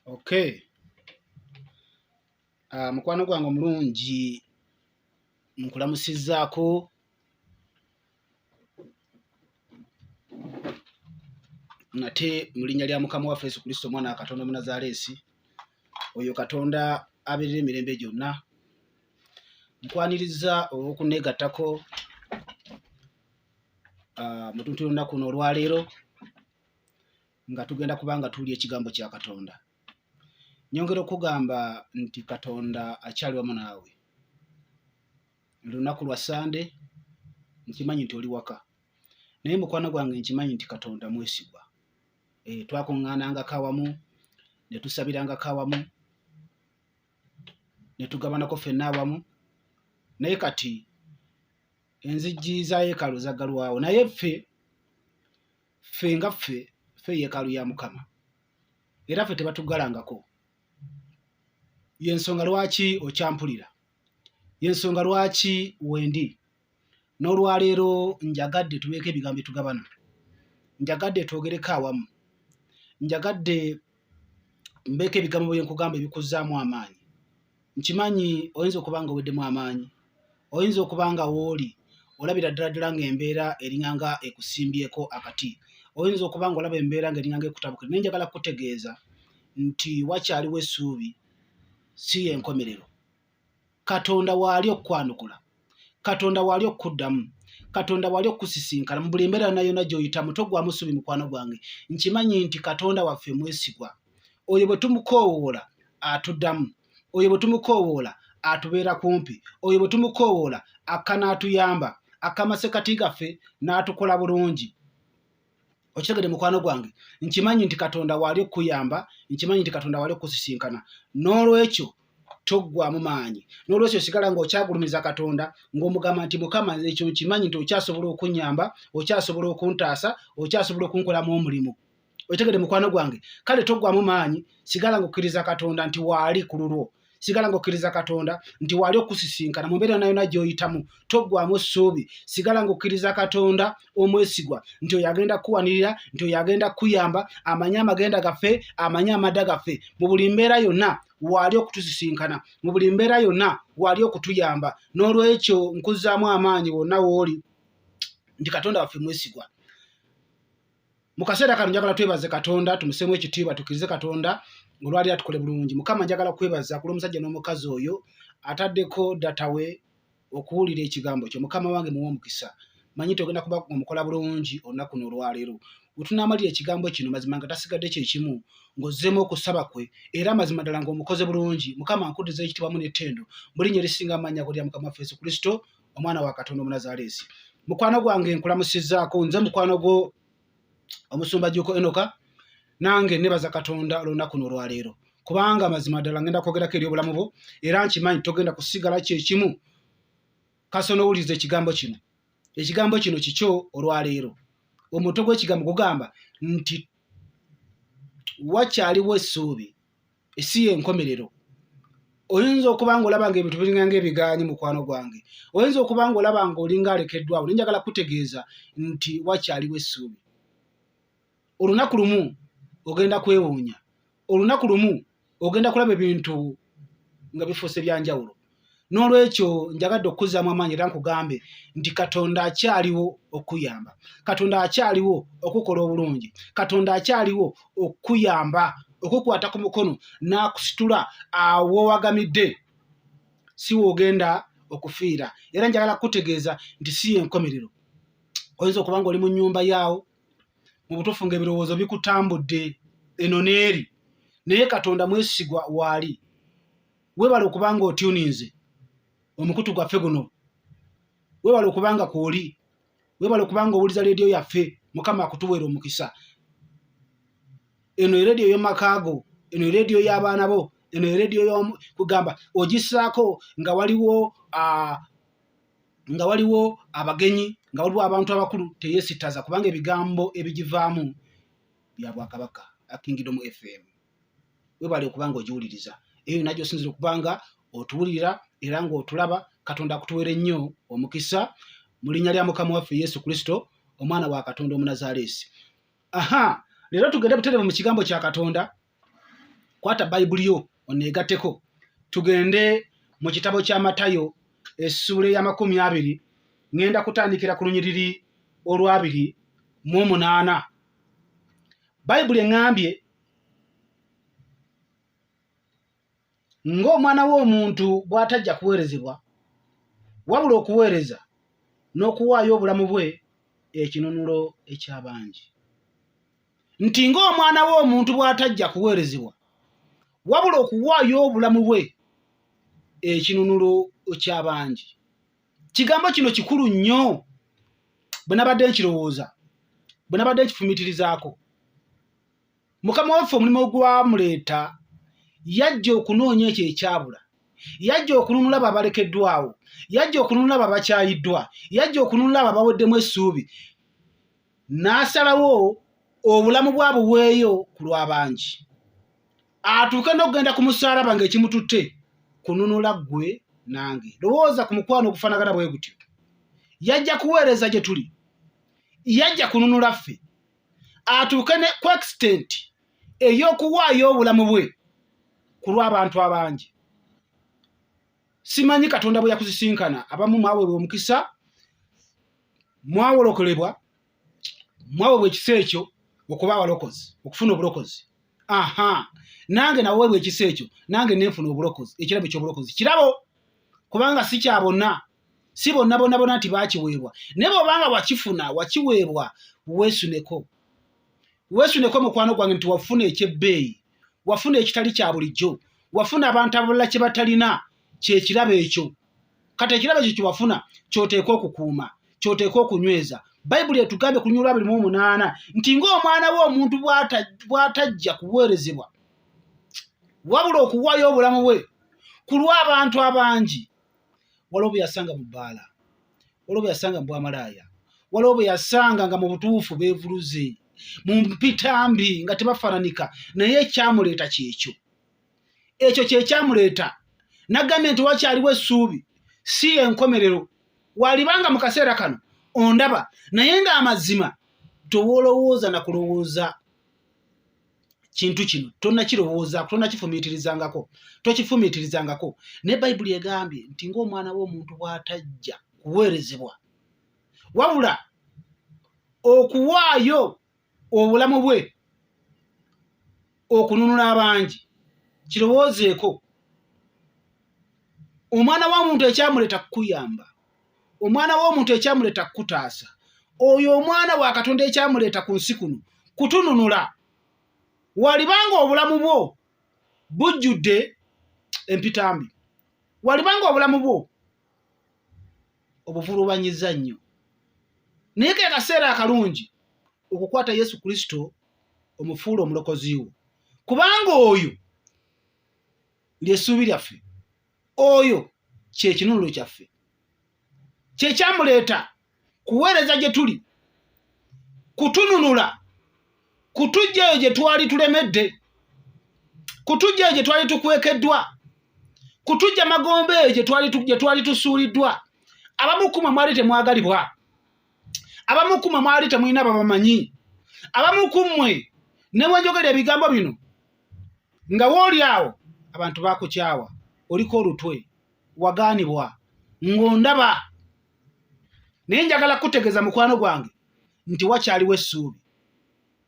okay uh, mukwano gwange omulungi nkulamusizaako nate mu linnya lya mukama waffe yesu kristo omwana wa katonda omunazaaleesi oyo katonda abeerera emirembe gyonna nkwaniriza olw'okuneegattako ah, mutuntu yolunaku no olwaleero nga tugenda kuba nga tuwulya ekigambo kya katonda nyongera okugamba nti katonda akyali wamu naawe lunaku lwa sande nkimanyi nti oli waka naye mukwano gwange nkimanyi nti katonda mwesigwa e, eh, twakuŋŋaanangako awamu ne tusabirangako awamu ne tugabanako fenna awamu naye kati enzijji za yeekaalu zaggalwawo naye ffe ffe nga ffe ffe yeekaalu ya mukama era ffe tebatuggalangako yensonga lwaki okyampulira yensonga lwaki wendi n'olwaleero njagadde tubeeko ebigambo etugabana njagadde twogereko awamu njagadde mbeeko ebigambo bye nkugamba ebikuzzaamu amaanyi nkimanyi oyinza okuba nga oweddemu amaanyi oyinza okuba nga wooli olabira ddala ddala ng'embeera eringanga ekusimbyeko akati oyinza okuba nga olaba embeera nga eringanga ekutabukira naye njagala kukutegeeza nti wakyaliwo essuubi si y'enkomerero katonda waali okukwanukula katonda waali okukuddamu katonda waali okukusisinkana mu buli mbeera yona yona gyoyitamu togwamu subi mukwano gwange nkimanyi nti katonda waffe mwesigwa oyo bwe tumukoowoola atuddamu oyo bwe tumukoowoola atubeera kumpi oyo bwe tumukoowoola akka n'atuyamba akamasekati gaffe n'atukola bulungi okitegede mukwano gwange nkimanyi nti katonda waali okukuyamba nkimanyi nti katonda waali okukusisinkana n'olwekyo toggwamu maanyi n'olwekyo osigala ng'okyagulumiza katonda ng'omugamba nti mukama nze ekyo nkimanyi nti okyasobola okunyamba okyasobola okuntaasa okyasobola okunkolamu omulimu okitegede mukwano gwange kale toggwamu maanyi sigala ng'okkiriza katonda nti waali ku lulwo sigala ng'okkiriza katonda nti waali okusisinkana mu mbeera nayona gy'oyitamu toggwamu ssuubi sigala ng'okkiriza katonda omwesigwa nti oyo agenda kukuwanirira nti oyo agenda kukuyamba amanye amagenda gaffe amanye amadda gaffe mu buli mbeera yonna waali okutusisinkana mu buli mbeera yonna waali okutuyamba n'olwekyo nkuzzaamu amaanyi wonna wooli nti katonda waffe mwesigwa mu kaseera kano njagala twebaze katonda tumuseemu ekitiibwa tukkirize katonda olwali atukole bulungi mukama njagala kwebaza kula omusajja n'omukazi oyo ataddeko datawe okuwulira ekigambo kyo mukama wange muwa omukisa manyi togenda kuba omukola bulungi olunaku n'olwaleero wetunamalira ekigambo kino mazima nga tasigadde kyekimu ng'ozzeemu okusaba kwe era mazima ddala ng'omukoze bulungi mukama nkudiza ekitibamu n'ettendo mulinya erisinga amaanyi ago lya mukama waffe yesu kristo omwana wa katonda omunazaaleesi mukwano gwange nkulamusizaako nze mukwano gwo omusumba juko enoka nange nebaza katonda olunaku nolwaleero kubanga mazima ddala ngenda kwogerako eri obulamu bwo era nkimanyi togenda kusigala kyekimu kasona owuliriza ekigambo kino ekigambo kino kikyo olwaleero omutwe gw'ekigambo gugamba nti wakyaliwo essuubi esi yenkomerero oyinza okuba nga olaba nga ebintu biringa nga ebigaanyi mukwano gwange oyinza okuba nga olaba nga olinga alekeddwawo naye njagala kutegeeza nti wakyaliwo essuubi olunaku lumu ogenda kwewuunya olunaku lumu ogenda kulaba ebintu nga bifuuse byanjawulo n'olwekyo njagadde okukuzaamu amaanyi era nkugambe nti katonda akyaliwo okukuyamba katonda akyaliwo okukola obulungi katonda akyaliwo okukuyamba okukwata ku mukono n'akusitula awo wagamidde si woogenda okufiira era njagala kukutegeeza nti si yenkomerero oyinza okuba nga oli mu nyumba yaawo mu butuufu nga ebirowoozo bikutambudde eno n'eri naye katonda mwesigwa waali webale okubanga otuninze omukutu gwaffe guno webale okubanga kwoli webale okubanga owuliza leediyo yaffe mukama akutuweera omukisa eno ereediyo yomakaago eno ereediyo y'abaana bo eno ereediyo kugamba ogisaako nga waliwo nga waliwo abagenyi nga waliwo abantu abakulu teyesitaza kubanga ebigambo ebigivaamu bya bwakabaka akingidomu fm webale okuba nga ogiwuliriza eyo yona gyosinzira okuba nga otuwulira era ng'otulaba katonda akutuwere nnyo omukisa mu linnya lya mukama waffe yesu kristo omwana wa katonda omunazaleesi aha leero tugende buterevu mu kigambo kya katonda kwata bayibuli yo oneegateko tugende mu kitabo kya matayo essuula ey'amakumi abiri ŋŋenda kutandikira ku lunyiriri olwabiri mu omunaana bayibuli eŋŋambye ng'omwana w'omuntu bw'atajja kuweerezebwa wabula okuweereza n'okuwaayo obulamu bwe ekinunulo eky'abangi nti ng'omwana w'omuntu bw'atajja kuweerezebwa wabula okuwaayo obulamu bwe ekinunulo ky'abangi kigambo kino kikulu nnyo bwe nabadde nkirowooza bwe nabadde nkifumitirizaako mukama waffe omulimu ogwamuleeta yajja okunoonya ekyo ekyabula yajja okununula abo abalekeddwawo yajja okununula abo abakyayiddwa yajja okununula abo abaweddemu essuubi n'asalawo obulamu bwabuweeyo ku lw'abangi atuuke n'okugenda ku musaalaba ng'ekimututte kununula ggwe nange lowooza ku mukwano ogufanagana bwe gutyo yajja kuweereza gye tuli yajja kununula ffe atuuke ne ku extent ey'okuwaayo obulamu bwe ku lw'abantu abangi simanyi katonda bwe yakusisinkana abamu mwaweebwa omukisa mwawolokolebwa mwaweebwa ekisa ekyo okuba abalokozi okufuna obulokozi aha nange naweebwa ekisa ekyo nange nenfuna obulokozi ekirabo ekyobulokozi kirabo kubanga si kya bonna si bonna bona bona nti bakiweebwa naye bwobanga wakifuna wakiweebwa wesuneko wesuneko mukwano gwange nti wafuna ekyebbeeyi wafuna ekitali kya bulijjo wafuna abantu abalala kye batalina kyekirabo ekyo kati ekirabo ekyo kyewafuna kyoteeka okukuuma kyoteeka okunyweza bayibuli etugambye ku lunyula abirimu omunaana nti ng'omwana we omuntu bw'atajja kuweerezebwa wabula okuwaayo obulamu bwe ku lw'abantu abangi waliwo bwe yasanga mu bbaala waliwo bwe yasanga mu bwamalaaya waliwo bwe yasanga nga mu butuufu beevuluze mu mpita mbi nga tebafaananika naye ekyamuleeta kyekyo ekyo kyekyamuleeta nagambye nti wakyaliwo essuubi si enkomerero walibanga mu kaseera kano ondaba naye ng'amazima tewolowooza na kulowooza kintu kino tonakirowoozaako tonakifumiitirizangako tokifumiitirizangako naye bayibuli egambye nti ngaomwana w'omuntu bw'atajja kuweerezebwa wabula okuwaayo obulamu bwe okununula abangi kirowoozeeko omwana wa muntu ekyamuleeta kukuyamba omwana w'omuntu ekyamuleeta kukutaasa oyo omwana wa katonda ekyamuleeta ku nsi kuno kutununula walibanga obulamu bwo bujjudde empitambi walibanga obulamu bwo obuvulubanyiza nnyo naye ke kaseera akalungi okukwata yesu kristo omufuula omulokozi wo kubanga oyo lyessuubi lyaffe oyo kyekinunulo kyaffe kyekyamuleeta kuweereza gye tuli kutununula kutujja eyo gye twali tulemedde kutujja eyo gye twali tukwekeddwa kutujja magombe eyo gye twali tusuuliddwa abamukuma mwali temwagalibwa abamukuma mwali temulina babamanyi abamukummwe ne wenjogera ebigambo bino nga wooli awo abantu bakukyawa oliko olutwe wagaanibwa ng'ondaba naye njagala kukutegeeza mukwano gwange nti wakyaliwo essuubi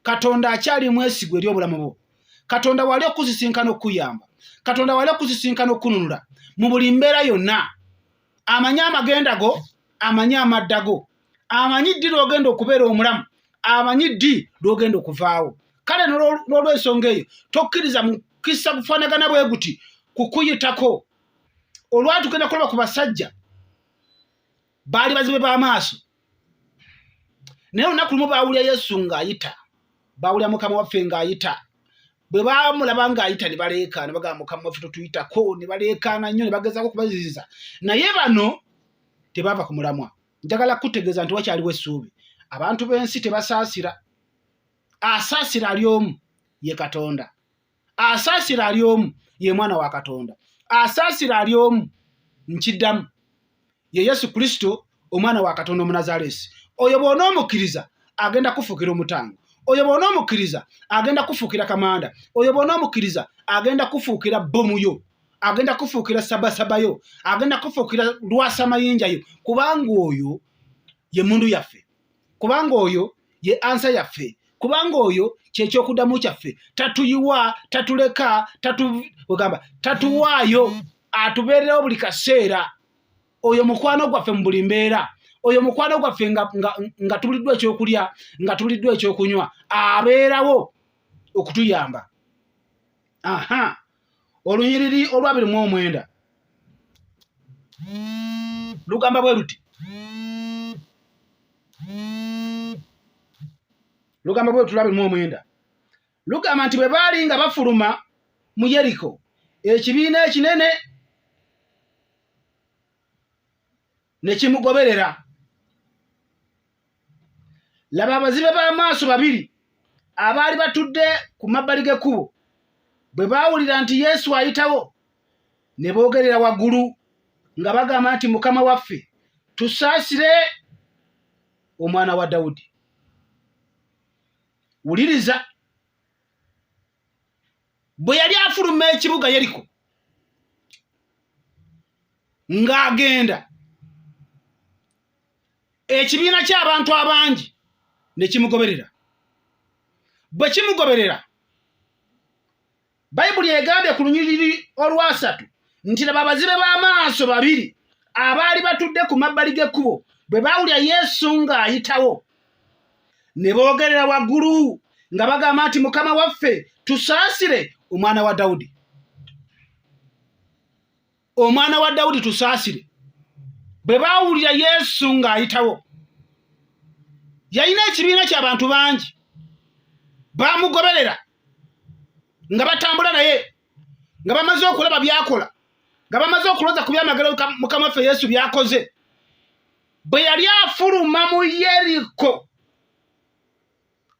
katonda akyali mwesigwa eri obulamu bwo katonda wali okusisinkana okukuyamba katonda wali okusisinkana okukununula mu buli mbeera yonna amanyi amagenda go amanyi amadda go amanyi ddi lwogenda okubeera omulamu amanyi ddi lwogenda okuvaawo kale nolwensonga eyo tokkiriza mukisa kufanagana bwe guti kukuyitako olwatugenda kulaba ku basajja baali bazibe b'amaaso naye olunaku lumu baawulira yesu ng'ayita baawulira mukama waffe ng'ayita bwe bamulaba ng'ayita ne baleekaana bagamba mukama waffe totuyitako ne baleekaana nnyo ne bagezaako okubaziziza naye bano tebaava ku mulamwa njagala kukutegeeza nti wakyaliwo essuubi abantu b'ensi tebasaasira asaasira ali omu ye katonda asaasira ali omu ye mwana wa katonda asaasira ali omu nkiddamu ye yesu kristo omwana wa katonda omunazaleesi oyo bwona omukkiriza agenda kufuukira omutango oyo bwona omukkiriza agenda kufuukira kamanda oyo bwona omukkiriza agenda kufuukira bbomu yo agenda kufuukira sabasaba yo agenda kufuukira lwasa mayinja yo kubanga oyo ye mundu yaffe kubanga oyo ye ansa yaffe kubanga oyo kyekyokudamu kyaffe tatuyiwa tatuleka tatuwaayo atubeererawo buli kaseera oyo mukwano gwaffe mu buli mbeera oyo mukwano gwaffe nga tuliddwa ekyokulya nga tuliddwa ekyokunywa abeerawo okutuyamba aha olunyiriri olwabiri mu omwenda lugamba bwe luti lugamba bwe luti lwabiri mu omwenda lugamba nti bwe baali nga bafuluma mu yeriko ekibiina ekinene ne kimugoberera laba abazibe b'amaaso babiri abaali batudde ku mabbali g'ekkubo bwe baawulira nti yesu ayitawo ne boogerera waggulu nga bagamba nti mukama waffe tusaasire omwana wa dawudi wuliriza bwe yali afuluma ekibuga yeriko ng'agenda ekibiina ky'abantu abangi ne kimugoberera bwe kimugoberera bayibuli egambye ku lunyiriri olwasatu nti laba abazibe b'amaaso babiri abaali batudde ku mabbali g'ekkubo bwe baawulira yesu ng'ayitawo ne boogerera waggulu nga bagamba nti mukama waffe tusaasire omwana wa dawudi omwana wa dawudi tusaasire bwe baawulira yesu ng'ayitawo yalina ekibiina ky'abantu bangi baamugoberera nga batambula naye nga bamaze okulaba byakola nga bamaze okuloza ku byamagero mukama waffe yesu byakoze bwe yali afuluma mu yeriko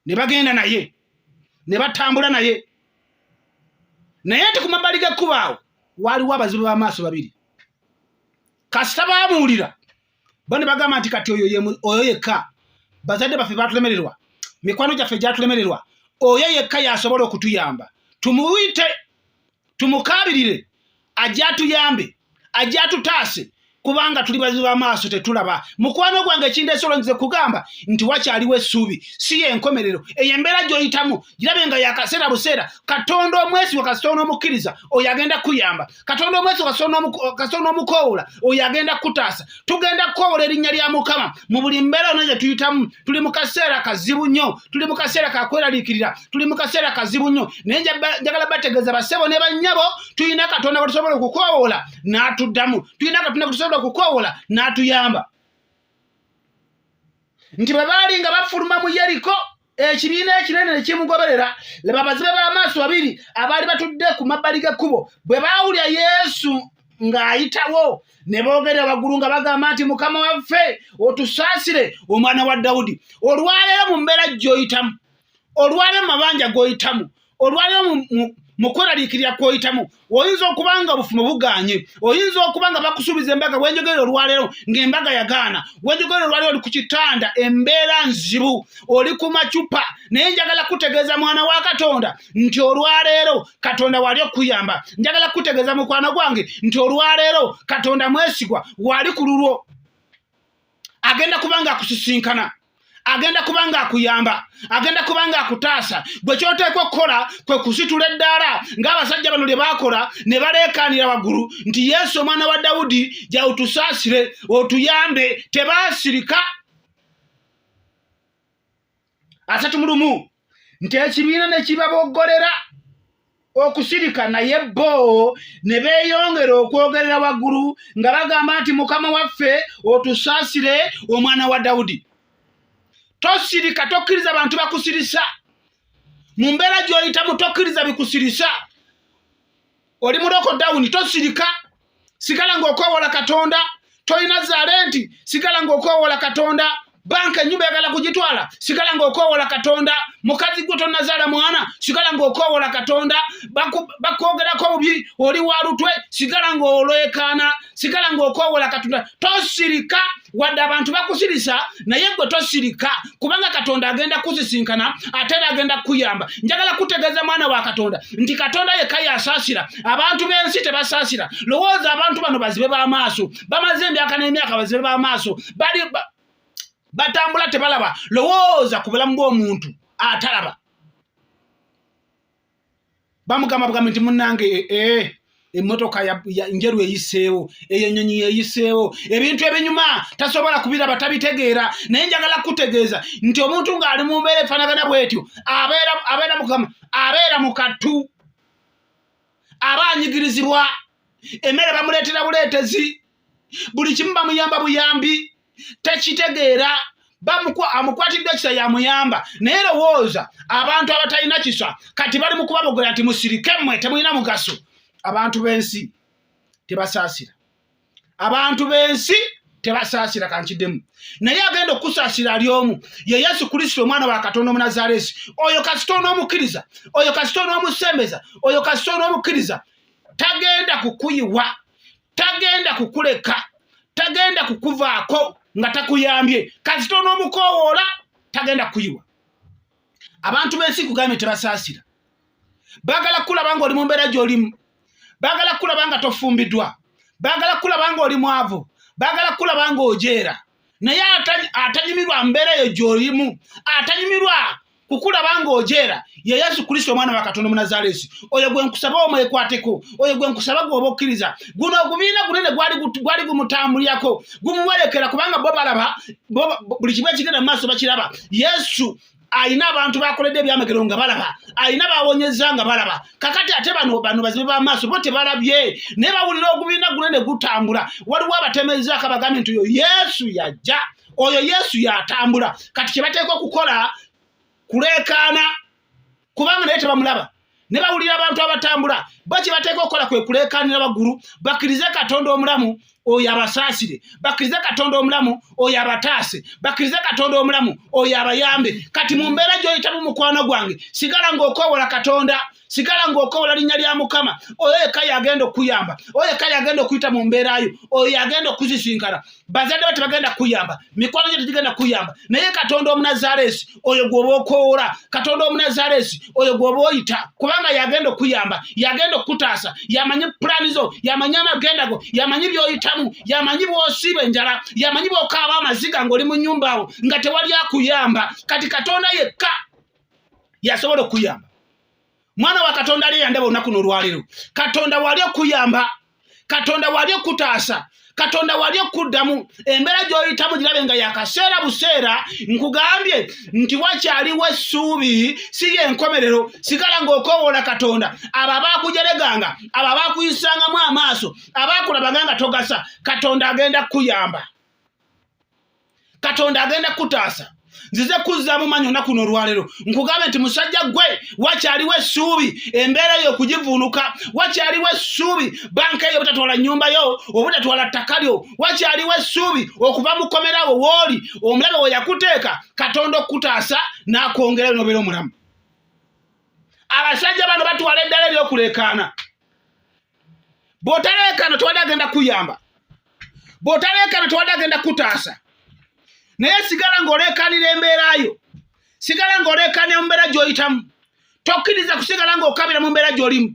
ne bagenda naye ne batambula naye naye nti ku mabbali g'ekkubo awo waaliwo abazibu b'amaaso babiri kasita baamuwulira bo ne bagamba nti kati oyo yekka bazadde baffe baatulemererwa mikwano gyaffe gyatulemererwa oyo yekka yasobola okutuyamba tumuyite tumukaabirire ajja atuyambe ajja atutaase kubanga tuli bazibu bamaaso tetulaba mukwano gwange ekindeesa olonzize kugamba nti wakyaliwo essuubi si yenkomerero eyo embeera gyoyitamu girabe nga yakaseera buseera katonda omwesigwa kasita onomukkiriza oyo agenda kukuyamba katonda omwesigwa kasita onomukowoola oyo agenda kukutaasa tugenda kukowola erinnya lya mukama mu buli mbeera ono gye tuyitamu tuli mu kaseera kazibu nnyo tuli mu kaseera kakweraliikirira tuli mu kaseera kazibu nnyo naye njagala bategeeza basebo ne bannyabo tulina katonda gwetusobola okukowola n'atuddamu tulina katonda gwetusobola okukowola n'atuyamba nti bwe baali nga bafuluma mu yeriko ekibiina ekinene ne kimugoberera laba abazibe b'amaaso babiri abaali batudde ku mabbali g'ekkubo bwe baawulira yesu ng'ayitawo ne boogera waggulu nga bagamba nti mukama waffe otusaasire omwana wa dawudi olwaleero mu mbeera gy'oyitamu olwaleero mu mabanja g'oyitamu olwaliro mukweraliikirira kwoyitamu oyinza okuba nga obufumo buganye oyinza okuba nga bakusuubiza embaga wenjogerera olwaleero ngaembaga yagaana wenjogerera olwaleero oli ku kitanda embeera nzibu oli ku macupa naye njagala kutegeeza mwana wa katonda nti olwaleero katonda wali okuyamba njagala kutegeeza mukwano gwange nti olwaleero katonda mwesigwa wali ku lulwo agenda kuba nga akusisinkana agenda kuba nga akuyamba agenda kuba nga akutaasa gwe kyoteekwa okukola kwe kusitula eddaala ng'abasajja bano lye baakola ne baleekaanira waggulu nti yesu omwana wa dawudi jautusaasire otuyambe tebaasirika asatu mu lumu nti ekibiina ne kibaboggolera okusirika naye bo ne beeyongera okwogerera waggulu nga bagamba nti mukama waffe otusaasire omwana wa dawudi tosirika tokkiriza bantu bakusirisa mu mbeera gy'oyitamu tokkiriza bikusirisa oli muloko dawuni tosirika sigala ngaokwewola katonda tolina zaale nti sigala ngaokwewola katonda banka enyumba yagala kugitwala sigala ngaokwewola katonda mukazi gwe tonazaala mwana sigala ngaokwewola katonda bakwogerako bubi oli walutwe sigala ngaolwekaana sigala ng'okoowola katonda tosirika wadde abantu bakusirisa naye gwe tosirika kubanga katonda agenda kusisinkana ate era agenda kukuyamba njagala kutegeeza mwana wa katonda nti katonda yekka yasaasira abantu b'ensi tebasaasira lowooza abantu bano bazibe b'amaaso bamaze emyaka n'emyaka bazibe b'amaaso bali batambula tebalaba lowooza ku bulamu bw'omuntu atalaba bamugamba bugambi nti munange ee eh, eh, eh, emmotoka njeru eyiseewo eyo ennyonyi yeyiseewo ebintu ebinyuma tasobola kubiraba tabitegeera naye njagala kutegeeza nti omuntu ng'ali mu mbeera efaanagana bwetyo abeera mukama abeera mu kattu aba anyigirizibwa emmere bamuleetera buleetezi buli kimu bamuyamba buyambi tekitegeera amukwatidde kisa yamuyamba naye lowooza abantu abatalina kisa kati bali mu kubabogera nti musirike mmwe temulina mugaso abantu b'ensi tebasaasira abantu b'ensi tebasaasira kankiddemu naye agenda okukusaasira ali omu ye yesu kristo omwana wa katonda omunazaaleesi oyo kasita onoomukkiriza oyo kasita onoomusembeza oyo kasita onoomukkiriza tagenda kukuyiwa tagenda kukuleka tagenda kukuvaako nga takuyambye kasita onoomukowoola tagenda kuyiwa abantu b'ensi kugambye tebasaasira baagala kukulaba nga oli mu mbeera gy'olimu baagala kukulaba nga tofumbiddwa baagala kukulaba nga oli mwavu baagala kukulaba nga ojeera naye atanyumirwa mbeera eyo gy'olimu atanyumirwa kukulaba ng'ojeera ye yesu kristo omwana wa katonda omunazaleesi oyo gwe nkusaba omwekwateko oyo gwe nkusaba gwoba okkiriza guno ogubiina gunene gwali gumutambulirako gumuwerekera kubanga bo balaba buli kimu ekigenda mu maaso bakiraba yesu alina abantu bakoledde ebyamagero nga balaba alina bawonyeza nga balaba kakati ate bano bano bazibe bamaaso bo tebalabye naye bawulira ogubiina guna ne gutambula waliwo abatemezaako abagambye nti oyo yesu yajja oyo yesu yatambula kati kyebateeka okukola kuleekaana kubanga naye tebamulaba ne bawulira abantu abatambula bo kye bateeka okukola kwe kuleekaanira waggulu bakkirize katonda omulamu oyo abasaasire bakkirize katonda omulamu oyo abataase bakkirize katonda omulamu oyo abayambe kati mu mbeera gy'oyitamu mukwano gwange sigala ng'okoowola katonda sigala ng'okoowola linnya lya mukama oyo yekka yagenda okukuyamba oyo yekka yagenda okuyita mu mbeera yo oyo yagenda okuzisinkana bazadde ba tebagenda kuyamba mikwano gye tegigenda kuyamba naye katonda omunazaaleesi oyo gwoba okowoola katonda omunazaaleesi oyo gwoba oyita kubanga yagenda okuyamba yagenda okukutaasa yamanyi pulaani zo yamanyi amagenda go yamanyi byoyitamu yamanyi bwosiiba enjala yamanyi bwokaaba amaziga ngaoli mu nyumba awo nga tewali akuyamba kati katonda yekka yasobola okuyamba mwana wa katonda ali eyandaba olunaku nolwaleero katonda wali okuyamba katonda wali okutaasa katonda wali okuddamu embeera gy'oyitamu girabe nga yakaseera buseera nkugambye nti wakyaliwo essuubi si yenkomerero sigala ng'okoowoola katonda abo abaakujereganga abo abaakuyisangamu amaaso abaakulabanga nga togasa katonda agenda kukuyamba katonda agenda kutaasa nzize kuzzaamu manyi onaku n'olwaleero nkugambe nti musajja gwe wakyaliwo essuubi embeera yo okugivuunuka wakyaliwo essuubi banka eyo obutatwala nnyumba yo obutatwala ttaka lyo wakyaliwo essuubi okuva mu kkomerawo wooli omulabe we yakuteeka katonda okukutaasa n'akwongerayo n'obeera omulamu abasajja bano batwala eddala ery'okuleekaana bw'otaleekaana tewali agenda kuyamba bw'otaleekaana tewali agenda kutaasa naye sigala ng'oleekaanira embeera yo sigala ng'oleekaanira mu mbeera gy'oyitamu tokkiriza kusigala ng'okabira mu mbeera gy'olimu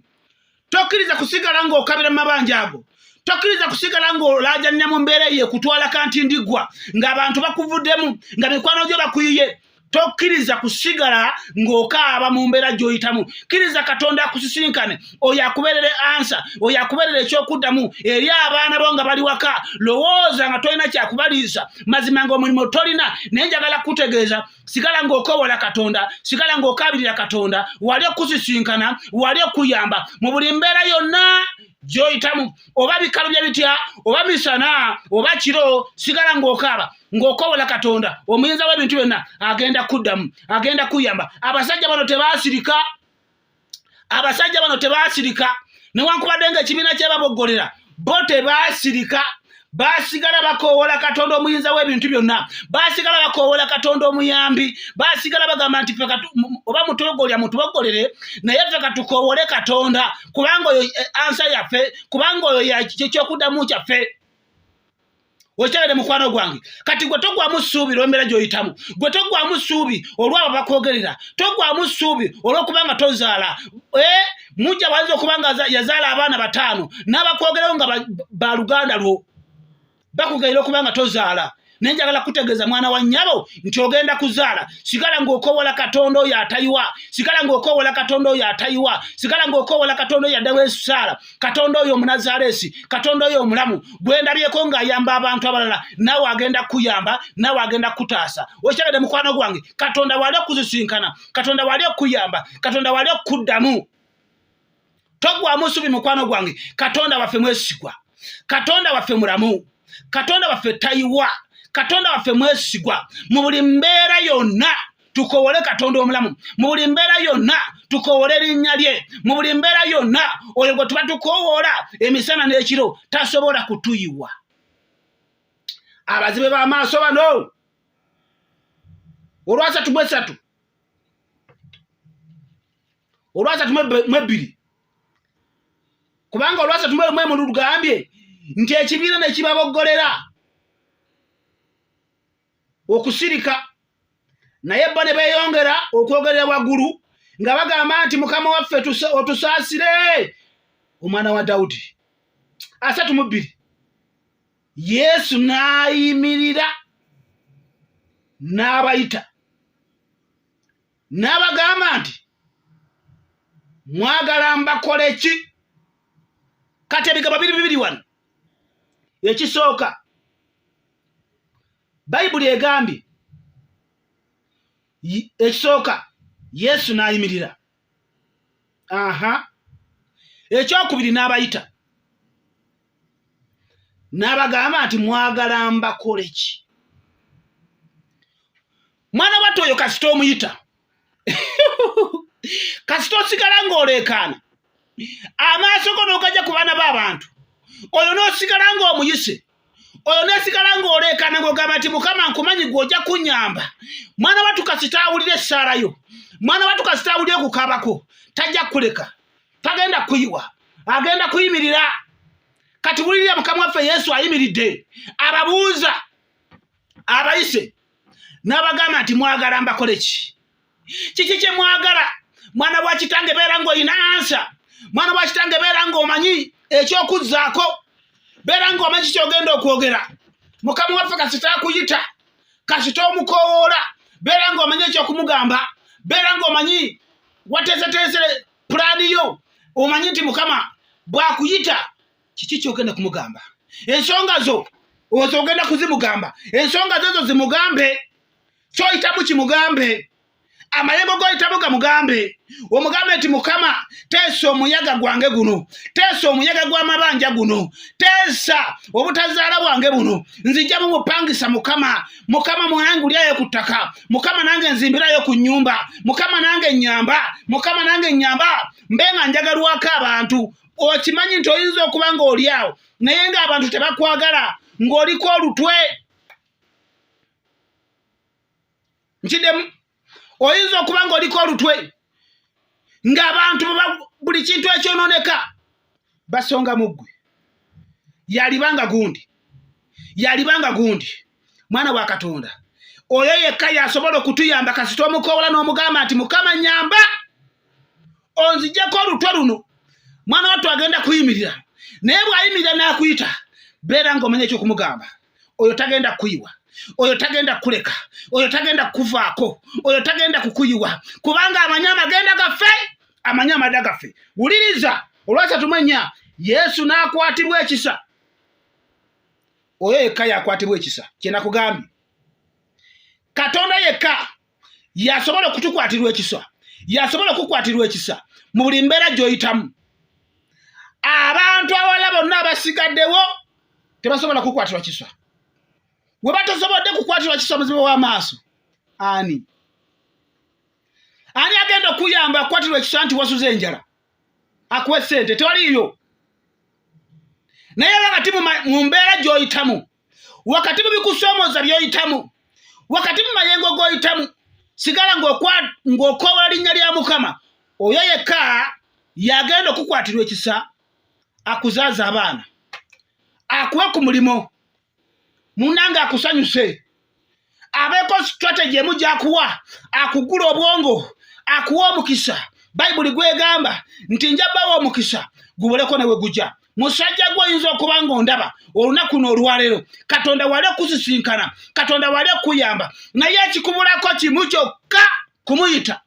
tokkiriza kusigala ng'okabira mu mabanja ago tokiriza kusigala ng'olaajanira mu mbeera eyo ekutwala kanti ndigwa ng'abantu bakuvuddemu nga mikwano gyo bakuyiye tokkiriza kusigala ng'okaaba mu mbeera gy'oyitamu kkiriza katonda akusisinkane oyo akubeerere ansa oyo akubeerere ekyokuddamu eri abaana bo nga bali waka lowooza nga tolina kyakubaliisa mazima ng'omulimu tolina naye njagala kukutegeeza sigala ng'okowola katonda sigala ng'okaabirira katonda wali okusisinkana wali okuyamba mu buli mbeera yonna gy'oyitamu oba bikalubya bitya oba misana oba kiro sigala ng'okaaba ng'okowola katonda omuyinza w'ebintu byonna agenda kuddamu agenda kuyamba abasajja bano tebasirika abasajja bano tebasirika newankubadde nga ekibiina kyebaboggolera bo tebasirika basigala bakoowola katonda omuyinza w'ebintu byonna basigala bakoowola katonda omuyambi basigala bagamba nti oba mutogolya mutuboggolere naye ffe katukoowole katonda kubanga oyo eh, ansa yaffe kubanga oyo kyekyokudamu kyaffe okitegede mukwano gwange kati gwe togwamu ssuubi lwembeera gyoyitamu gwe togwamu ssuubi olwabo bakwogerera togwamu ssuubi olwokubanga tozaala eh, mujja bwayinza okubanga yazaala abaana bataano n'abakwogerawo nga baluganda lwo bakugayira okuba nga tozaala naye njagala kutegeeza mwana wa nnyabo nti ogenda kuzaala sigala ng'okoowola katonda oyo atayiwa sigala ng'okoowola katonda oyo atayiwa sigala ng'okoowola katonda oyo addawo esusaala katonda oyo omunazaaleesi katonda oyo omulamu gwendabyeko ng'ayamba abantu abalala naawe agenda kukuyamba naawe agenda kukutaasa okitegede mukwano gwange katonda waali okuzisinkana katonda waali okukuyamba katonda waali okukuddamu togwamu subi mukwano gwange katonda waffe mwesigwa katonda waffe mulamu katonda waffe tayiwa katonda waffe mwesigwa mu buli mbeera yonna tukowole katonda omulamu mu buli mbeera yonna tukowole erinnya lye mu buli mbeera yonna oyo gwe tuba tukowoola emisana n'ekiro tasobola kutuyiwa abazibe b'amaaso bano olwasatu bwesatu olwasatu mwebbiri kubanga olwasatu mwemunu lugambye nti ekibiina ne kibaboggolera okusirika naye bo ne beeyongera okwogerera waggulu nga bagamba nti mukama waffe otusaasire omwana wa dawudi asatu mu bbiri yesu n'ayimirira n'abayita n'abagamba nti mwagala mbakole ki kati ebigabo biri bibiri wano ekisooka bayibuli egambye ekisooka yesu n'ayimirira aha ekyokubiri n'abayita n'abagamba nti mwagala mbakole ki mwana watu oyo kasita omuyita kasita osigala ng'oleekaana amaaso go n'ogajja ku baana b'abantu oyo n'osigala ng'omuyise oyo n'osigala ng'oleekaana ng'ogamba nti mukama nkumanyi gwe ojja kunnyamba mwana watu kasita awulira essaala yo mwana watu kasita awulira okukabako tajja kukuleka tagenda kuyiwa agenda kuyimirira kati wulirira mukama waffe yesu ayimiridde ababuuza abayise n'abagamba nti mwagala mbakole ki kiki kye mwagala mwana wa kitange beera ng'olina ansa mwana wa kitange beera ng'omanyi eky'okuzzaako beera ng'omanyi kyogenda okwogera mukama waffe kasita akuyita kasita omukowoola beera ng'omanyi ekyokumugamba beera ng'omanyi wateeseteese pulaani yo omanyi nti mukama bwakuyita kiki kyogenda kumugamba ensonga zo ozo ogenda kuzimugamba ensonga zozo zimugambe kyoyitamu kimugambe amayengo goyitamu gamugambe omugambe nti mukama teesa omuyaga gwange guno teesa omuyaga gw'amabanja guno teesa obutazaala bwange buno nzija mumupangisa mukama mukama mwange ulyayo ku ttaka mukama nange nzimbirayo ku nnyumba mukama nange nyamba mukama nange nyamba mbe nga njagalwako abantu okimanyi nti oyinza okuba ng'oli awo naye ng'abantu tebakwagala ng'oliko olutwe nkidemu oyinza okuba ng'oliko olutwe ng'abantu buli kintu ekyonooneka basonga mu ggwe yaliba nga gundi yaliba nga gundi mwana wa katonda oyo yekka yasobola okutuyamba kasita omukoola n'omugamba nti mukama nyamba onzijeko olutwe luno mwana wattu agenda kuyimirira naye bw'ayimirira n'akuyita beera ng'omanya ekyokumugamba oyo tagenda kukuyiwa oyo tagenda kukuleka oyo tagenda kukuvaako oyo tagenda kukuyiwa kubanga amanyi amagenda gaffe amanyi amada gaffe wuliriza olwasatu manya yesu n'akwatibwa ekisa oyo yekka yakwatibwa ekisa kyenakugambye katonda yekka yasobola okutukwatirwa ekisa yasobola okukwatirwa ekisa mu buli mbeera gyoyitamu abantu awala bonna abasigaddewo tebasobola kukwatirwa kisa we batasobodde kukwatirwa kisa muzibe w'amaaso ani ani agenda okuyamba akwatirwa ekisa nti wasuza enjala akuwe sente toliiyo naye wakati mu mbeera gy'oyitamu wakati mu bikusoomoza by'oyitamu wakati mu mayengo g'oyitamu sigala ng'okoobola linnya lya mukama oyo yekka yagenda okukwatirwa ekisa akuzaaza abaana akuwe ku mulimu munange akusanyuse abeeko strategy emu gyakuwa akugula obwongo akuwa omukisa bayibuli gwegamba nti nja bawa omukisa guboleko newe gujja musajja gwe oyinza okuba nga ondaba olunaku no olwaleero katonda wali okusisinkana katonda wali okuyamba naye ekikubulako kimu kyokka kumuyita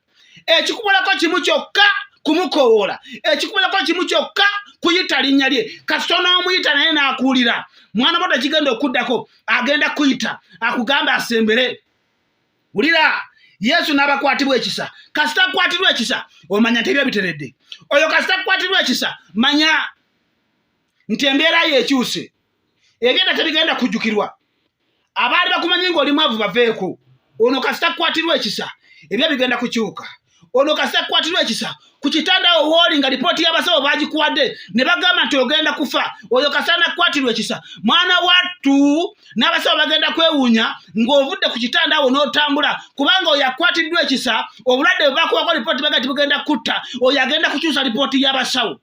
ekikubulako kimu kyokka kumukowoola ekikubulako kimu kyokka kuyita linnya lye kasita onoomuyita naye n'akuwulira mwana boda kigenda okuddako agenda kuyita akugamba asembere wulira yesu n'abakwatibwa ekisa kasita akwatirwa ekisa omanya nti ebyo biteredde oyo kasita akwatirwa ekisa manya nti embeera yo ekyuse ebigenda tebigenda kujjukirwa abaali bakumanyi ngaoli mwavu baveeko ono kasita kukwatirwa ekisa ebyo bigenda kukyuka ono kasita kukwatirwa ekisa ku kitanda awo wooli nga lipooti y'abasawo bagikuwadde ne bagamba nti ogenda kufa oyo kasita nakukwatirwa ekisa mwana wattu n'abasawo bagenda kwewuunya ng'ovudde ku kitanda awo n'otambula kubanga oyo akwatiddwa ekisa obulwadde bwe bakuwako lipooti baga ti bugenda kutta oyo agenda kukyusa lipooti y'abasawo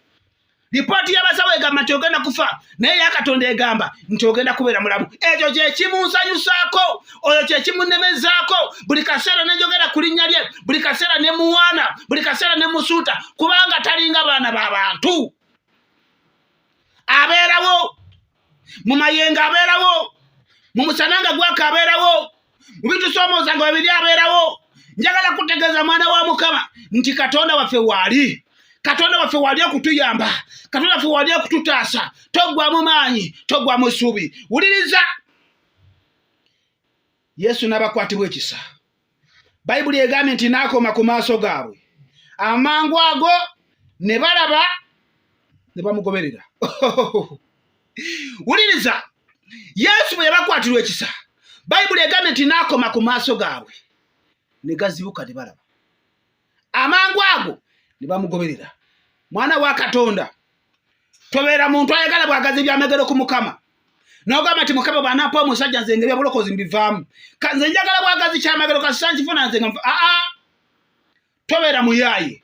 lipooti y'abasawo egamba nti ogenda kufa naye yakatonda egamba nti ogenda kubeera mulamu ekyo kyekimunsanyusaako oyo kyekimunemezaako buli kaseera nenjogera ku linnya lye buli kaseera ne muwaana buli kaseera ne musuuta kubanga talinga baana ba bantu abeerawo mu mayengo abeerawo mu musana nga gwaka abeerawo mu bitusoomooza nga webiri abeerawo njagala kutegeeza mwana wa mukama nti katonda waffe waali katonda waffe wali okutuyamba katonda waffe wali okututaasa toggwamu maanyi toggwamu ssuubi wuliriza yesu n'abakwatibwa ekisa bayibuli egambye nti n'akoma ku maaso gaabwe amangu ago ne balaba ne bamugoberera wuliriza yesu bwe yabakwatirwa ekisa bayibuli egambye nti n'akoma ku maaso gaabwe ne gazibuka ne balaba amangu ago ne bamugoberera mwana wa katonda tobeera muntu ayagala bwagazi ebyamegero ku mukama nogamba nti mukama bwanampa omusajja nze nga ebyabulokozi mbivaamu kanze njagala bwagazi kyamagero kasisa nkifuna nze nga aa tobeera muyaaye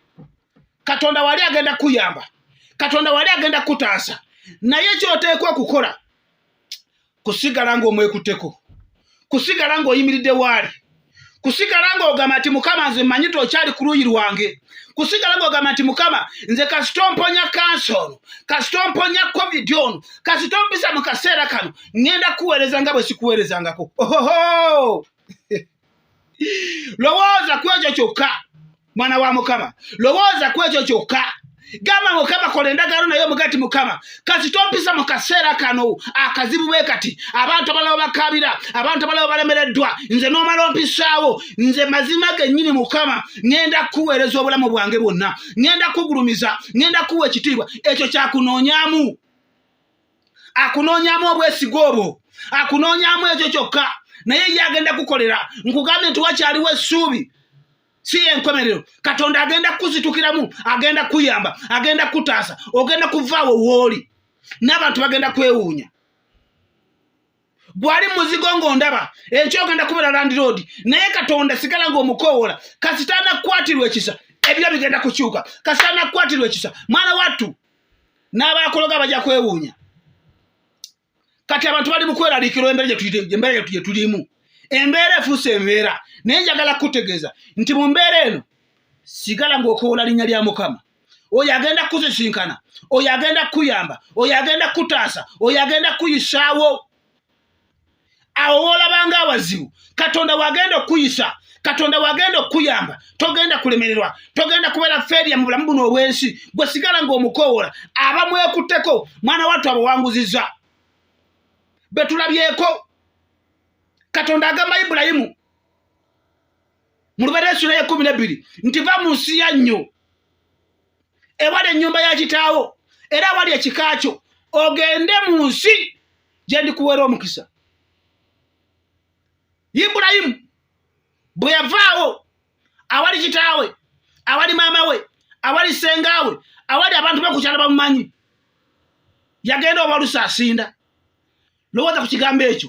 katonda wali agenda kuyamba katonda wali agenda kutaasa naye kyoteekwa okukola kusigala ng'omwekutteko kusigala ng'oyimiridde waali kusigala ng'ogamba nti mukama nze mmanyi ti okyali ku luuyi lwange kusigala ng'ogamba nti mukama nze kasita omponya kansa ono kasita omponya covid ono kasita ompisa mu kaseera kano ŋŋenda kuweereza nga bwe sikuweerezangako ohoho lowooza ku ekyo kyokka mwana wa mukama lowooza ku ekyo kyokka gamba mukama kola endagaano naye omugati mukama kasi tompisa mu kaseera kano akazibu bwe kati abantu abalaba bakabira abantu abalaba balemereddwa nze n'omala ompisaawo nze mazima gennyini mukama ŋenda kukuweereza obulamu bwange bwonna ŋenda kukugulumiza ŋenda kukuwa ekitiibwa ekyo kyakunoonyamu akunoonyamu obwesige obwo akunoonyamu ekyo kyokka naye ye agenda kukolera nkugambye nti wakyaliwo essuubi si yenkomerero katonda agenda kukuzitukiramu agenda kuyamba agenda kutaasa ogenda kuvaawo wooli n'abantu bagenda kwewuunya gwali muzigo ng'ondaba ekyogenda kubeera landiroodi naye katonda sigala ng'omukowoola kasita anakukwatirwa ekisa ebiro bigenda kukyuka kasita anakukwatirwa ekisa mwana wattu n'abaakologa bajja kwewuunya kati abantu bali mukweraliikirwa embeera gye tulimu embeera efuuse embeera naye njagala kukutegeeza nti mu mbeera eno sigala ng'okowoola linnya lya mukama oyo agenda kuzisinkana oyo agenda kukuyamba oyo agenda kukutaasa oyo agenda kukuyisaawo awo woolabanga awazibu katonda wagenda okukuyisa katonda wagenda okukuyamba togenda kulemererwa togenda kubeera feria mu bulamu buno obwensi gwe sigala ng'omukowoola aba mwekutteko mwana wattu abawanguziza betulabyeko katonda agamba ibulayimu mu lubeera essula y'ekkumi n'ebbiri nti va mu nsi ya nnyo ewali ennyumba ya kitaawo era awali ekika kyo ogende mu nsi gye ndikuweera omukisa ibulayimu bwe yavaawo awali kitaawe awali maama we awali ssengaawe awali abantu be ku kyalo bamumanyi yagenda obalusa asinda lowooza ku kigambo ekyo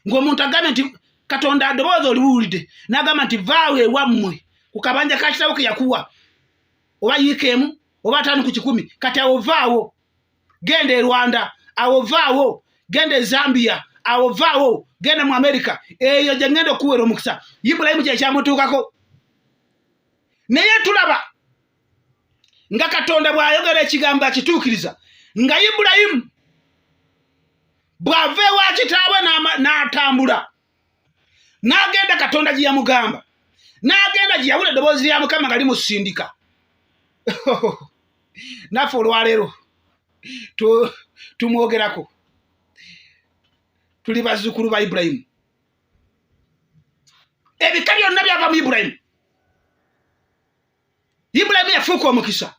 ng'omuntu agambye nti katonda adobooza oliwulidde n'agamba nti vaawo ewammwe ku kabanja ka kitabo ke yakuwa oba yiika emu oba ataano ku kikumi kati awo vaawo genda e rwanda awo vaawo genda e zambia awo vaawo genda mu amerika eyo gye ngenda okuwera omukisa ibulayimu kyekyamutuukako naye tulaba nga katonda bw'ayogera ekigambo akituukiriza nga ibulayimu bw'ava ewa kitaabwe n'atambula n'agenda katonda gye yamugamba n'agenda gye yawula eddoboozi lya mukama nga limusindika naffe olwaleero tumwogerako tuli bazzukulu ba ibulayimu ebika byonna byava mu ibulayimu ibulayimu yafuuka omukisa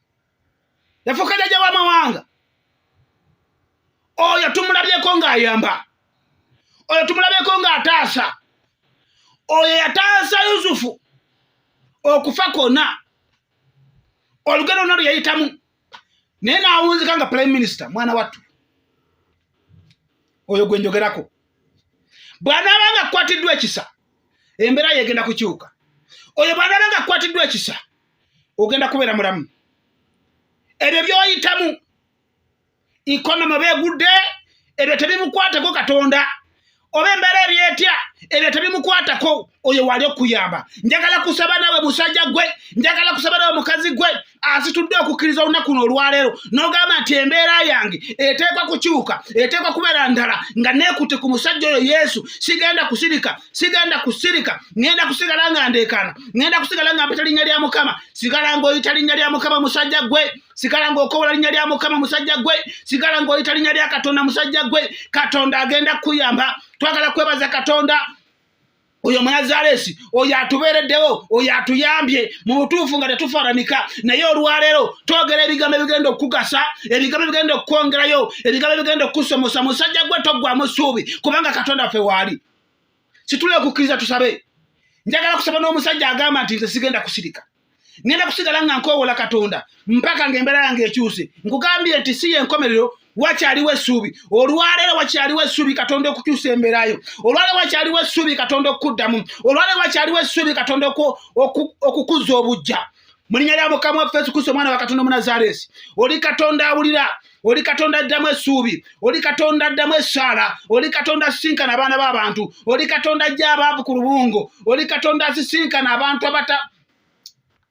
yafuuka jajja w'amawanga oyo tumulabyeko ng'ayamba oyo tumulabyeko ng'ataasa oyo yataasa yusufu okufa kwonna olugero lwona lwe yayitamu naye nawunzika nga prime minister mwana wattu oyo gwe njogerako bw'anaaba nga kukwatiddwa ekisa embeera yegenda kukyuka oyo bw'anaaba nga kukwatiddwa ekisa ogenda kubeera mulamu ebyo by'oyitamu ikonoma beegudde ebyo tebimukwateko katonda oba embeera eri etya ebyo tebimukwatako oyo wali okuyamba njagala kusaba nawe musajja gwe njagala kusaba nawe mukazi gwe asitudde okukkiriza olunaku no olwaleero nogamba nti embeera yange eteekwa kukyuka eteekwa kubeera ndala nga neekutte ku musajja oyo yesu sigenda kusirika sigenda kusirika ŋenda kusigala nga ndeekaana ŋenda kusigala nga mpita linnya lya mukama sigala ngaoyita linnya lya mukama musajja gwe sigala ng'okowola linnya lya mukama musajja gwe sigala ng'oyita linnya lya katonda musajja gwe katonda agenda kukuyamba twagala kwebaza katonda oyo munazaleesi oyo atubeereddewo oyo atuyambye mu butuufu nga tetufananika naye olwaleero twogera ebigambo ebigenda okukugasa ebigambo ebigenda okukwongerayo ebigambo ebigenda okukusomosa musajja gwe toggwamu ssuubi kubanga katonda ffe waali situle okukkiriza tusabe njagala kusaba n'omusajja agamba nti nze sigenda kusirika ngenda kusigala nga nkoowola katonda mpaka nga embeera yange ekyuse nkugambye nti si yenkomerero wakyaliwo essuubi olwaleero wakyaliwo essuubi katonda okukyusa embeerayo olwaleero wakyaliwo essuubi katonda okukuddamu olwaleero wakyaliwo essuubi katonda okukuzza obujja mu linnya lya mukama waffe yesu kristo omwana wa katonda omunazaaleesi oli katonda awulira oli katonda addamu essuubi oli katonda addamu essaala oli katonda asisinkana abaana b'abantu oli katonda ajja abaavu ku lubungo oli katonda asisinkana abantu abata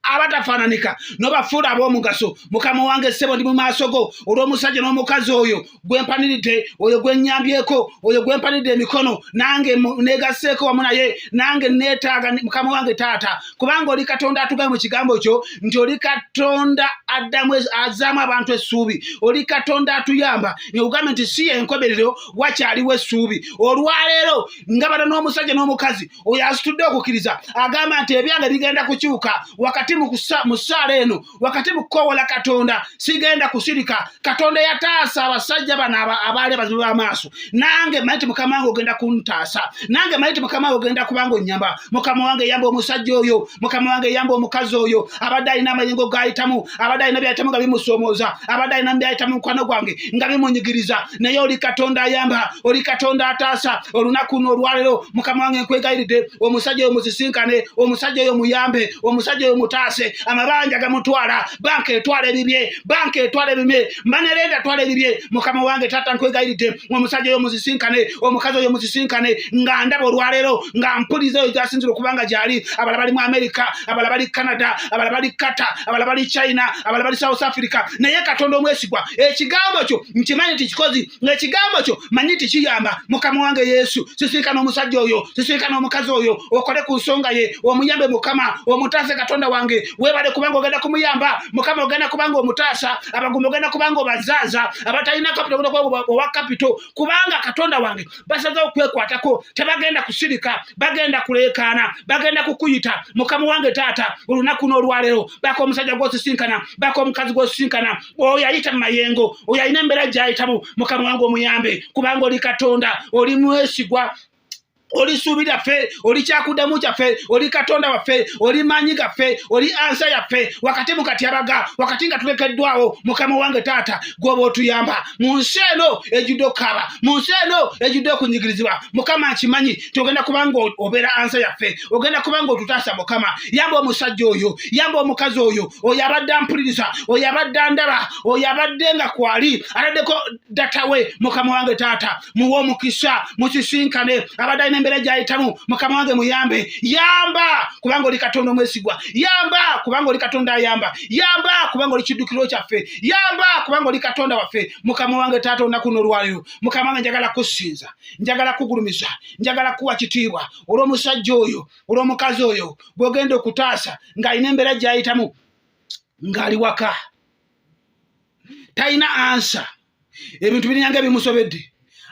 abatafaananika nobafuula ab'omugaso mukama wange ssebo ndi mu maaso go olw'omusajja n'omukazi oyo gwempaniridde oyo gwenyambyeko oyo gwempaniridde emikono nange negaseeko wamu naye nange neetaaga mukama wange taata kubanga oli katonda atugae mu kigambo kyo nti oli katonda addamu azaamu abantu essuubi oli katonda atuyamba neugambye nti si yenkomerero wakyaliwo essuubi olwaleero nga bana n'omusajja n'omukazi oyo asitudde okukkiriza agamba nti ebyange bigenda kukyuka wakati mu saala eno wakati mu kukoowola katonda sigenda kusirika katonda yataasa abasajja bano abaali abazibu b'amaaso nange manyi ti mukama wange ogenda kuntaasa nange manyi ti mukama wange ogenda kubanga onnyamba mukama wange yamba omusajja oyo mukama wange yamba omukazi oyo abadde alina amayengo gayitamu abadde alina byayitamu nga bimusoomooza abadde alina byayitamu mukwano gwange nga bimunyigiriza naye oli katonda ayamba oli katonda ataasa olunaku no olwalero mukama wange nkwegayiridde omusajja oyo musisinkane omusajja oyo muyambe omusajja oyo mutaase amabanja gamutwala banka etwala ebibye banka etwala ebibye mbanerenda atwala ebibye mukama wange taata nkwegayiridde omusajja oyo musisinkane omukazi oyo musisinkane nga ndaba olwaleero nga mpuliza oyo gyasinzira okuba nga gyali abala bali mu amerika abala bali canada abala bali kata abala bali china abala bali south africa naye katonda omwesigwa ekigambo kyo nkimanyi nti kikozi ngaekigambo kyo manyi tikiyamba mukama wange yesu sisirika n'omusajja oyo sisirika n'omukazi oyo okole ku nsonga ye omuyambe mukama omutaase katonda wange webale kubanga ogenda kumuyamba mukama ogenda kubanga omutaasa abagumba ogenda kubanga obazaaza abatalina kapito ogenda kubanga owa kapito kubanga katonda wange basaza okwekwatako tebagenda kusirika bagenda kuleekaana bagenda kukuyita mukama wange taata olunaku n'olwaleero baka omusajja gwosisinkana baka omukazi gwosisinkana oyo ayita mumayengo oyo alina embeera gyayitamu mukama wange omuyambe kubanga oli katonda oli mwesigwa oli suubi lyaffe oli kyakudamu kyaffe oli katonda waffe oli maanyi gaffe oli ansa yaffe wakati mu katyabaga wakati nga tulekeddwawo mukama wange taata gwoba otuyamba mu nsi eno ejjudde okukaaba mu nsi eno ejjudde okunyigirizibwa mukama nkimanyi nti ogenda kubanga obeera ansa yaffe ogenda kubanga otutaasa mukama yamba omusajja oyo yamba omukazi oyo oyo abadde ampuliriza oyo abadde andaba oyo abadde nga kwali ataddeko datawe mukama wange taata muwe omukisa musisinkane abadde alina embeera gyayitamu mukama wange muyambe yamba kubanga oli katonda omwesigwa yamba kubanga oli katonda ayamba yamba kubanga oli kiddukiro kyaffe yamba kubanga oli katonda waffe mukama wange taata olunaku nolwaliro mukama wange njagala kusinza njagala kugulumiza njagala kuwa kitiibwa olw'omusajja oyo olw'omukazi oyo gwogenda okutaasa ng'alina embeera gyayitamu ng'ali waka talina ansa ebintu birinanga ebimusobedde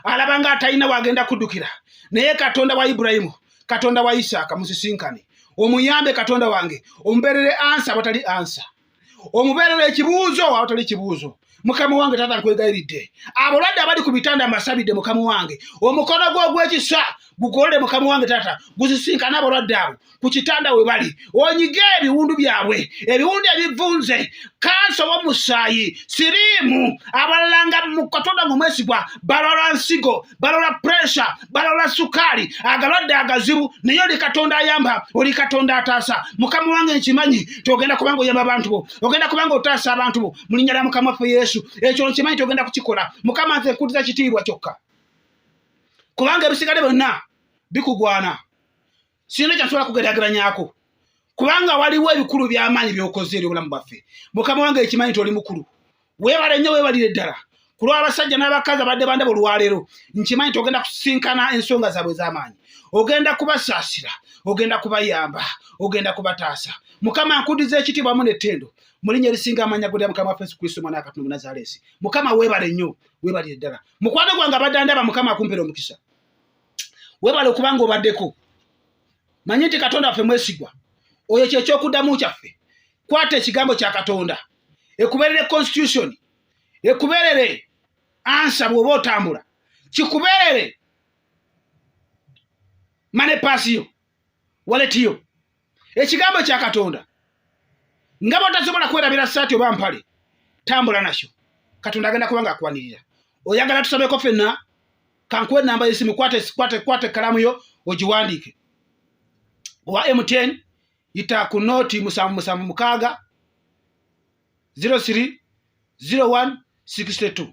alaba nga atalina wagenda kuddukira naye katonda wa iburayimu katonda wa isaaka musisinkane omuyambe katonda wange omubeerere ansa awatali ansa omubeerera ekibuuzo awatali kibuuzo mukama wange taata nkwegayiridde abalwadde abali ku bitanda amasabidde mukama wange omukono gwo ogw'ekisa gugolole mukama wange taata guzisinkane abalwadde abo ku kitanda we bali onyige ebiwundu byabwe ebiwundu ebivunze kansa w'omusaayi siriimu abalala nga mu katonda ng'omwesigwa balwalwa nsigo balola puresha balola sukaali agalwadde agazibu naye oli katonda ayamba oli katonda ataasa mukama wange nkimanyi tiogenda kubanga oyamba abantu bo ogenda kubanga otaasa abantu bo mulinya lya mukama waffe yesu ekyo nkimanyi tiogenda kukikola mukama nze nkutiza kitiibwa kyokka kubanga ebisigale byonna bikugwana sirina kyasobola kugeraageranyako kubanga waliwo ebikulu by'amaanyi by'okoze eri obulamu bwaffe mukama wange ekimanyi nti oli mukulu weebale nnyo weebalire ddala ku lw'abasajja n'abakazi abadde bandaba olwaleero nkimanyi nti ogenda kusinkana ensonga zaabwe ez'amaanyi ogenda kubasaasira ogenda kubayamba ogenda kubataasa mukama nkudiza ekitiibwa wamu n'ettendo mu linnya erisinga amanya gulira mukama waffe yesu kristo omwana wakatonda omunazaleesi mukama weebale nnyo weebalire ddala mukwano gwange abadde andaba mukama akumpera omukisa webale okuba nga obaddeko manye nti katonda waffe mwesigwa oyo kyekyokuddamu kyaffe kwata ekigambo kya katonda ekubeerere constitution ekubeerere ansa bw'oba otambula kikubeerere mane paasi yo waleti yo ekigambo kya katonda nga bwotasobola kwerabira saati oba mpale tambula nakyo katonda agenda kubanga akwanirira oyagala tusabeko fenna kankuwa enamba yesimu kwata ekalamu yo ogiwandiike owa mtn yita ku nooti musanvu musanvu mukaaga 03 01 62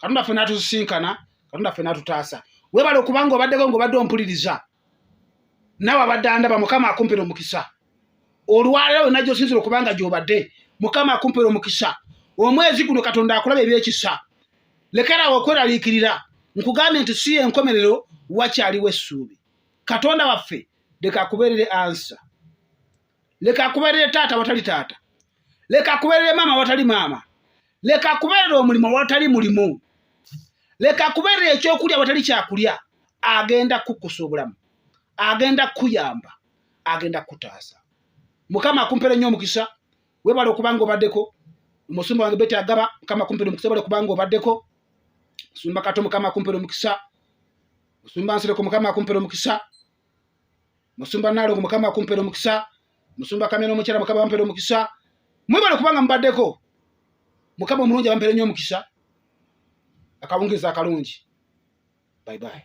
katonda ffe natusisinkana katonda ffe natutaasa webale okubanga obaddeko ngaobadde ompuliriza nawe abadde andaba mukama akumpera omukisa olwalero wena gyosinzira okubanga gyobadde mukama akumpera omukisa omwezi guno katonda akulaba ebyekisa lekerawo okweraliikirira nkugambye nti si yenkomerero wakyaliwo essuubi katonda waffe leka akubeerere ansa leka akuberere taata watali taata leka akuberere maama watali maama leka akuberere omulimu watali mulimu leka akuberere ekyokulya watali kyakulya agenda kukusa obulamu agenda kukuyamba agenda kukutaasa mukama akumpere nnyo omukisa webale okuba nga obaddeko omusumba wange bete agaba mukama akumpere omukisa webale okuba nga obaddeko musumba kato mukama akumpere omukisa musumba nsireko mukama akumpere omukisa musumba nalongo mukama akumpera omukisa musumba kamera omukyala mukama bampera omukisa mwebale kubanga mubaddeko mukama omulungi abampere nyo omukisa akawungiriza akalungi bye bye